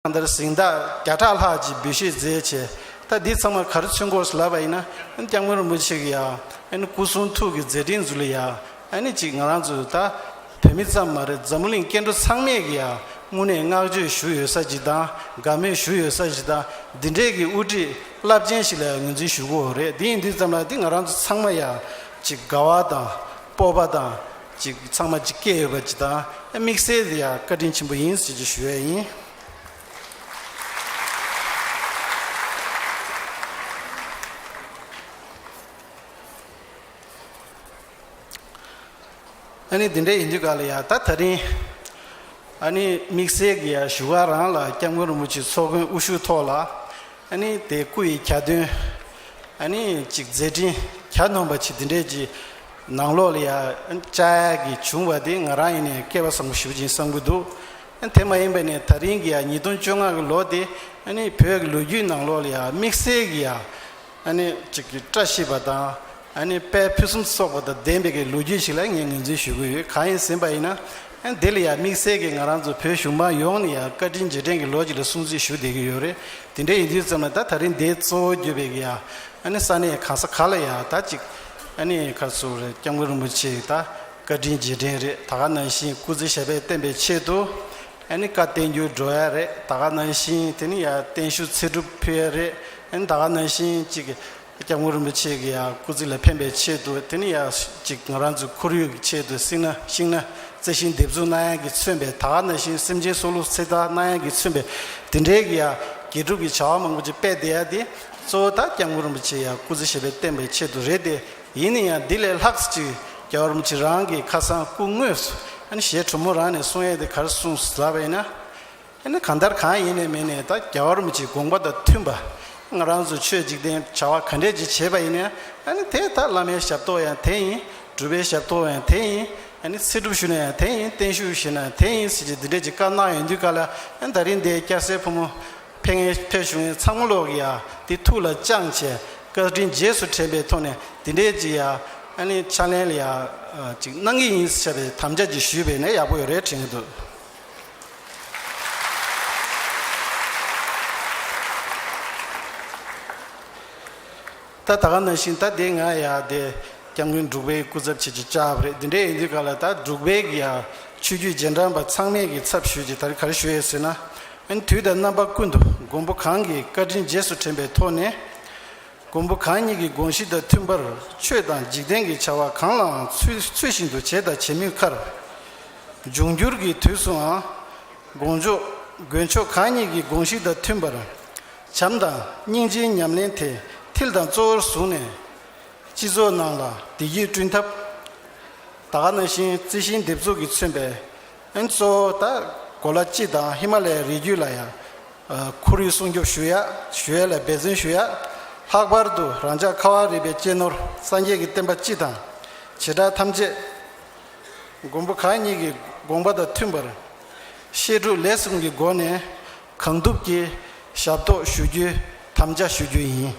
གང་ལྟར་གཟེངས་རྟགས་བརྒྱ་ཕྲག་ལྷག་ཅིག་འབུལ་བཞེས་མཛད་ཆེ། ད་འདི་ཚང་མ་ག་རེ་ཚུན་སྐོར་སུ་ལབ་པ་ཡིན་ན་ཀྱང་མོ་རིན་པོ་ཆེ་གི་ཡང་སྐུ་གསུང་ཐུགས་ཀྱི་མཛད་འཕྲིན་ཟུར་ལ་ཡང་ཅིག་ང་རང་ཚོ་ད་བོད་མི་ཙམ་མ་རེད་འཛམ་གླིང་སྐྱེ་འགྲོ་ཚང་མས་ཀྱི་ཡང་སྔུན་ནས་བསྔགས་བརྗོད་ཞུ་ཡོད་ས་ཅིག་དང་དགའ་མོས་ཞུ་ཡོད་ས་ཞིག་དང་འདི་འདྲའི་གི་དབུ་ཁྲིད་རླབས་ཆེན་ཞིག་ལ་ཡང་ངོས་འཛིན་ཞུ་དགོས་རེད་འདི་ཡིན་འདི་ཙམ་ལ་འདི་ང་རང་ཚོ་ཚང་མ་ཡང་ཅིག་དགའ་བ་དང་སྤོབས་པ་དང། ཅིག་ཚང་མ་ཅིག་སྐྱེས་ཡོད་པ་ཇི་དང་དམིགས་བསལ་དེ་ཡང་བཀའ་དྲིན་ཆེན་པོ་ཡིན་ཞེས་ཀྱི་ཞུ་བས་ཡིན། ཨ་ནི་འདི་འདྲ་ཡིན་དུས་ག་ལ་ཡ་ད་ད་རིང་ཨ་ནི་དམིགས་བསལ་གྱི་ཡང་ཞུ་བ་རང་ལ་སྐྱབས་མགོན་རིན་པོ་ཆེའི་ཚོགས་མགོན་དབུ་བཞུགས་ཐོག་ལ་ཨ་ནི་དེ་སྐུ་ཡི་གྱ་སྟོན་ཨ་ནི་ཅིག་མཛད་འཕྲིན་གྱ་ནོམ་པ་ཆེ་འདི་འདྲས་ཀྱི། ནང་ལོགས་ལ་ཡང་དཔྱད་ཡག་གི་བྱུང་བ་དེ་ང་རང་ཡིན་ནས་སྐལ་བ་བཟང་པོ་ཞུ་བཞིན་བསམ་གྱི་འདུག་དེ་མ་ཡིན་པ་ནས་ད་རིང་གི་ཡང་ཉིས་སྟོང་བཅོ་ལྔ་གི་ལོ་དེ་ནི་བོད་ཀྱི་ལོ་རྒྱུས་ནང་ལོགས་ལ་ཡང་དམིགས་བསལ་གྱི་ཡང་ཅིག་བཀྲ་ཤིས་པ་དང་དཔལ་ཕུན་སུམ་ཚོགས་པ་དང་ལྡན་པའི་གི་ལོ་རྒྱུས་ཞིག་ལ་ངས་ངོས་འཛིན་ཞུ་གི་ཡོད་གང་ཡིན་ཟེར་པ་ཡིན་ན་དེ་ལ་ཡང་དམིགས་བསལ་གྱི་ང་རང་ཚོ་བོད་གཞུང་མང་ཡོངས་ནས་ཡང་བཀའ་དྲིན་རྗེས་དྲན་གྱི་ལོ་ཅིག་ལ་སྲུང་བརྩི་ཞུ་བསྡད་ཀྱི་ཡོད་རེད་དེ་འདྲ་ཡིན་དུས་ཙམ་ལ་ད་ད་རིང་འདས་གཙོ་བོ་གྱུར་པའི་གི་ཡང་ས་གནས་གང་ས་ག་ལ་ཡང་ད་ཅིག་ཨ་ནི་ཁ་སུ་རེད་སྐྱབས་མགོན་རིན་པོ་ཆེ་ད་བཀའ་དྲིན་རྗེས་དྲན་རེད་ད་ག་ནང་བཞིན་སྐུ་ཚེ་ཞབས་པད་བརྟན་པའི་ཆེད་དུ་ཨ་ནི་བཀའ་བསྟན་འགྱུར་འགྲོ་ཡ་རེད་ད་ག་ནང་བཞིན་དེ་ནི་ཡང་བརྟན་བཞུགས་ཚེ་སྒྲུབ་ཕུལ་ཡ་རེད་ཨ་ནི་ད་ག་ནང་བཞིན་གཅིག་གི་སྐྱབས་མགོན་རིན་པོ་ཆེ་གི་ཡང་སྐུ་ཚེ་ལ་ཕན་པའི་ཆེད་དུ་དེ་ནི་ཡང་གཅིག་ང་རང་ཚོའི་ཁོར་ཡུག་གི་ཆེད་དུ་བསྲིངས་ན་བཤིགས་ན་རྩི་ཤིང་འདེབས་འཛུགས་གནའ་ཡང་གི་མཚོན་པའི་ད་ག་ནང་བཞིན་སེམས་ཅན་སྲོག་བླུ་ཚེ་བདག་གནའ་ཡང་གི་མཚོན་པའི་དེ་འདྲའི་གི་ཡང་དགེ་སྒྲུབ་ཀྱི་བྱ་བ་མང་པོ་ཅིག་དཔེ་བདེ་ཡ་དེ་གཙོ་བོ་དག་ཀྱང་ཀུན་རིན་པོ་ཆེ་ཡང་སྐུ་ཚེ་ཞེས་པའི་བསྟན་པའི་ཆེད་དུ་རེད་དེ་ཡིན་ནི་ཡང་འདི་ལས་ལྷག་ཅིག་རྒྱ་བར་མུ་ཆེ་རང་གི་ཁ་སང་སྐུ་དངོས་སུ་ཨ་ནི་ཞེས་གྲུ་མོ་རང་ནས་གསུང་ཡས་དེ་གར་གསུང་ཟ་བས་ན། ཨ་ནི་གང་ལྟར་གང་ཡིན་ནས་མིན་ནས་ད་རྒྱ་བར་མུ་ཆེའི་དགོངས་པ་དང་མཐུན་པ་ང་རང་ཚོ་ཆོས་འཇིག་རྟེན་བྱ་བ་ག་འདྲས་ཅིག་བྱེད་པ་ཡིན་ནའི་ཨ་ནི་དེས་ད་བླ་མའི་ཞབས་ཏོག་ཡང་དེ་ཡིན་གྲུབ་པའི་ཞབས་ཏོག་ཡང་དེ་ཡིན་ཨ་ནི་ཚེ་སྒྲུབ་ཞུ་ན་ཡང་དེ་ཡིན་བརྟན་བཞུགས་བཞེས་ན་ཡང་དེ་ཡིན་ཟེར་གྱི་འདི་འདྲས་ཅིག་བཀའ་གནང་ཡོང་དུས་ག་ལ་ཨ་ནི་ད་རིང་འདས་སྐྱ་སེར་ཕོ་མོ། ཕེ་ངེ་ཕེ་ཞུ་ངེ་ཚང་མོ་ལོག་གི་ཡ་འདི་ཐུགས་ལ་བཅང་བྱས་བཀའ་དྲིན་རྗེས་སུ་དྲན་པའི་ཐོག་ནས་འདི་འདྲའི་ཅིག་ཡ་ཨ་ནི་ཕྱག་ལེན་ལ་ཡ་ཅིག་གནང་གི་ཡིན་ཟེར་བའི་དམ་བཅའ་ཅིག་ཞུས་པས་ནས་ཡག་པོ་ཡོད་རེད་དྲན་གི་འདུག། ད་ད་ག་ན་བཞིན་ད་དེ་ང་ཡ་དེ་སྐྱབས་མགོན་འབྲུག་པའི་སྐུ་ཚབ་བྱེད་ཀྱི་སྐྱབས་རེད་དེ་འདྲ་ཡིན་དུས་ག་ལ་ད་འབྲུག་པའི་གི་ཡ་ཆོས་རྒྱུད་རྗེས་འབྲང་པ་ཚང་མས་གི་ཚབ་ཞུས་ཀྱི་ད་རེ་ག་རེ་ཞུ་ཡས་ཟེར་ན་ཨན་དུས་ད་རྣམ་པ་ཀུན་ཏུ་མགོན་པོ་གང་གི་བཀའ་དྲིན་རྗེས་སུ་དྲན་པའི་ཐོག་ནས་མགོན་པོ་གང་ཉིད་ཀྱི་དགོངས་གཞི་དང་མཐུན་པར་ཆོས་དང་འཇིག་རྟེན་གྱི་བྱ་བ་གང་ལའང་ཚུལ་ཚུལ་བཞིན་དུ་བྱས་དང་བྱེད་མུས་ཁར། འབྱུང་འགྱུར་གྱི་དུས་སུའང་དགོངས་མཆོག་མགོན་མཆོག་གང་ཉིད་ཀྱི་དགོངས་གཞི་དང་མཐུན་པར་བྱམས་དང་སྙིང་རྗེའི་ཉམས་ལེན་དེ་མཐིལ་དང་གཙོ་བོར་བཟུང་ནས། སྤྱི་ཚོགས་ནང་ལ་བདེ་སྐྱིད་བསྐྲུན་ཐབས། དག་སྣང་ཤིང་རྩི་ཤིང་འདེབས་འཛུགས་ཀྱིས་མཚོན་པའི་ཨན་གཙོ་བོ་དག་གོ་ལ་སྤྱི་དང་ཧི་མ་ལའི་རི་རྒྱུད་ལ་ཡང་ཁོར་ཡུག་སྲུང་སྐྱོབ་ཞུ་ཡགཞུ་ཡ་ལ་འབད་བརྩོན་ཞུ་ཡག་ལྷག་པར་དུ་རང་ཅག་ཁ་བ་རི་པའི་གཅེས་ནོར་སངས་རྒྱས་ཀྱི་བསྟན་པ་སྤྱི་དང་བྱེ་བྲག་ཐམས་ཅད་མགོན་པོ་གང་ཉིད་ཀྱི་དགོངས་པ་དང་མཐུན་པར་བཤད་སྒྲུབ་ལས་གསུམ་གྱི་སྒོ་ནས་གང་ཐུབ་ཀྱིས་ཞབས་ཏོག་ཞུ་རྒྱུའི་དམ་བཅའ་ཞུ་རྒྱུ་ཡིན།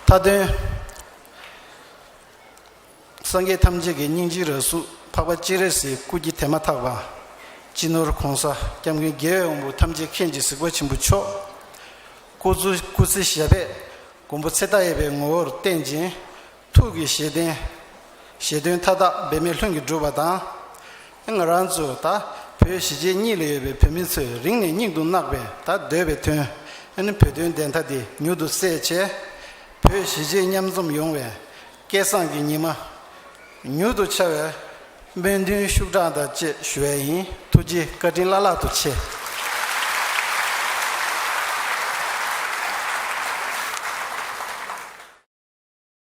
མཐའ་དོན། སངས་རྒྱས་ཐམས་ཅད་ཀྱི་སྙིང་རྗེའི་ར་ཟུག་འཕགས་པ་སྤྱན་རས་གཟིགས་སྐུ་སྐྱེ་དེ་མ་ཐག་པ། སྤྱི་ནོར་གོང་ས་སྐྱབས་མགོན་རྒྱལ་བའི་དབང་པོ་ཐམས་ཅད་མཁྱེན་གྱི་གཟིགས་པ་ཆེན་པོ་མཆོག། སྐུ་ཚུལ་སྐུ་ཚེ་ཞབས་པད་མགོན་པོ་ཚེ་མཐའ་ཡས་པའི་ངོ་བོར་བསྟན་ཅིང་ཐུགས་ཀྱི་བཞེད་དོན། བཞེད་དོན་མཐའ་དག་འབད་མེད་ལྷུན་གྱིས་འགྲུབ་པ་དང། ང་རང་ཚོ་ད་བོད་གཞིས་བྱེས་གཉིས་ལ་ཡོད་པའི་བོད་མི་ཚོས་རིང་ནས་སྙིང་དུ་བརྣག་པའི་ད་འདོད་པའི་དོན། བོད་དོན་བདེན་མཐའ་དེ་མྱུར་དུ་གསལ་བྱས། བོད་གཞིས་བྱེས་མཉམ་འཛོམས་ཡོང་བའི་སྐལ་བཟང་གི་ཉི་མ་མྱུར་དུ་འཆར་བའི་སྨོན་འདུན་ཤུགས་དྲག་དང་བཅས་ཞུ་བས་ཡིན་ཐུགས་རྗེ་བཀའ་དྲིན་བླ་ལྷག་ཏུ་ཆེ།